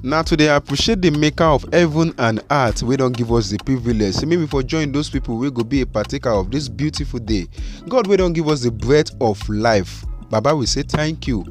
na to dey appreciate the maker of heaven and earth wey don give us the privilege say make we for join those people wey go be a partaker of this beautiful day god wey don give us the breath of life baba we say thank you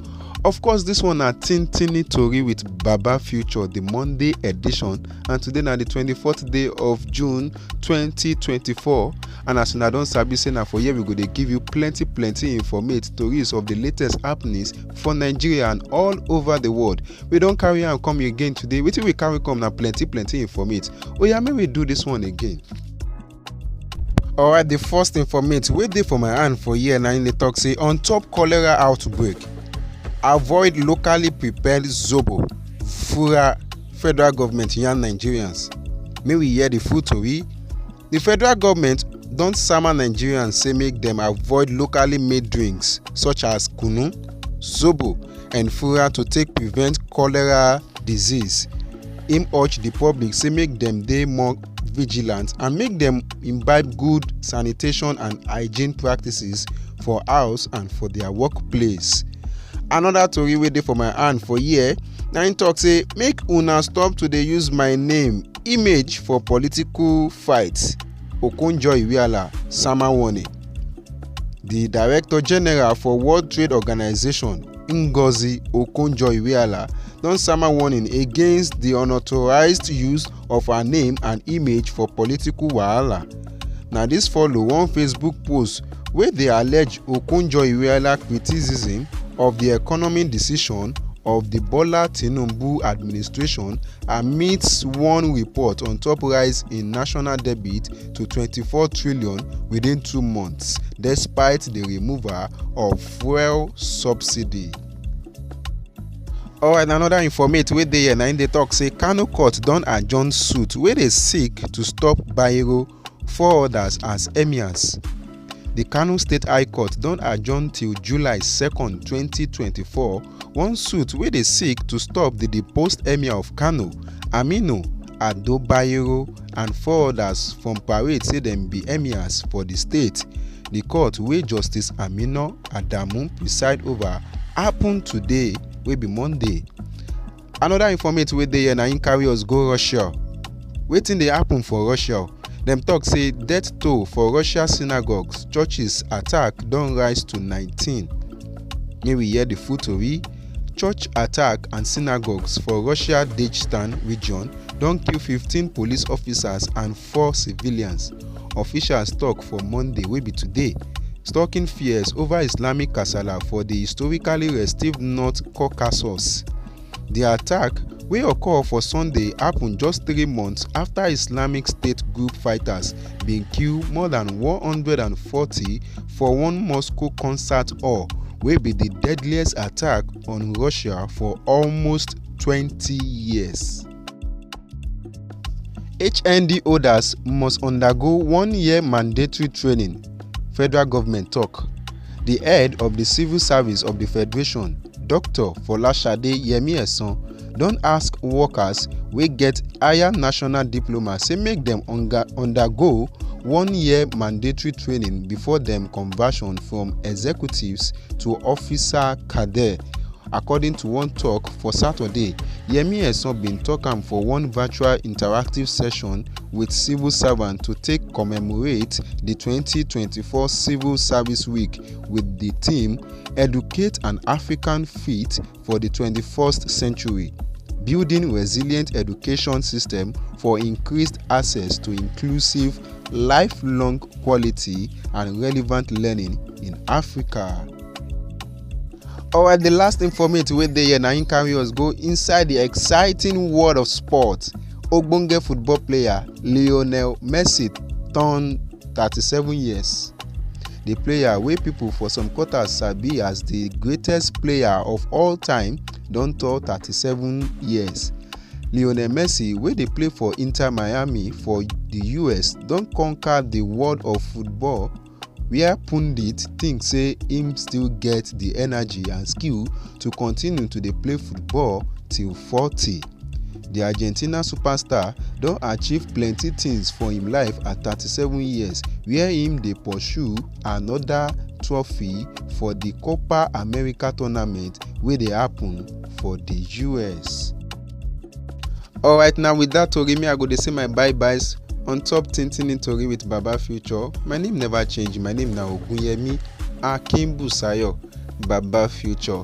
of course this one na tintini tori with baba future the monday edition and today na the 24th day of june 2024 and as una don sabi say na for here we go dey give you plenty plenty informate tories of the latest happenings for nigeria and all over the world we don carry am come again today wetin we carry come na plenty plenty informate oya make we do this one again alright the first informate wey dey for my hand for here na im dey talk say on top cholera outbreak avoid locally prepared zobo fura federal government yarn nigerians make we hear the full tori di federal goment don sama nigerians say make dem avoid locally made drinks such as kunu zobo and fura to take prevent cholera disease im urge di public say make dem dey more vigilant and make dem imbibe good sanitation and hygiene practices for house and for dia workplace. anoda tori wey dey for my hand for here na im tok say make una stop to dey use my name image for political fight okonjo-iweala sama warning di director-general for world trade organization ngozi okonjo-iweala don sama warning against di unauthorised use of her name and image for political wahala. na dis follow one facebook post wey dey allege okonjo-iweala criticism of di economic decision of di bola tinubu administration amidst one report on top rise in national debt to 24 trillion within two months despite di removal of fuel subsidy. alright another informate wey dey here na im dey talk say kano court don adjourn suit wey dey seek to stop bayero four others as emirs di kano state high court don adjourn till july 2 2024 one suit wey dey seek to stop di deposed emir of kano aminu ado bayero and four odas from parade say dem be emirs for di state di court wey justice amina adamu preside ova happun today wey be monday anoda informate wey dey here na im carry us go russia wetin dey happun for russia dem tok say death toll for russia synagogues churches attack don rise to 19 may we hear di full tori Church attack and synagogues for Russia Dagestan region don kill 15 police officers and four civilians, officials tok for Monday wey be today, stoking fears over Islamic kasala for di historically restive North Caucasus. Di attack, wey occur for Sunday, happun just three months afta Islamic State group fighters bin kill more than 140 for one Moscow concert hall wey be di deadliest attack on Russia for almost twenty years. HND holders must undergo one year mandatory training, federal government tok. Di head of di civil service of di federation, Dr Folashade Yemi-Esan don ask workers wey get higher national diploma say make dem undergo one year mandatory training before dem conversion from executives to officer cadre according to one tok for saturday yemi esan bin tok am for one virtual interactive session wit civil servants to take commemorate di 2024 civil service week wit di theme educate an african fit for di 21st century, building resilient education system for increased access to inclusive, lifelong quality and relevant learning in Africa. Alright, the last informate wey dey here na im carry us go inside the exciting world of sport. Ogbonge football player Lionel Messi turn 37 years di player wey pipo for some quarters sabi as di greatest player of all time don turn 37 years lionel messi wey dey play for inter miami for di us don conquer di world of football wia pundits tink say im still get di energy and skill to continue to dey play football till 40. di argentina superstar don achieve plenti tins for im life at 37 years wia im dey pursue anoda trophy for di copa america tournament wey dey happun for di us. alright na wit dat tori me i go dey say my bye byes on top tintin tori wit baba future my name neva change my name na ogunyemi akinbusayo baba future.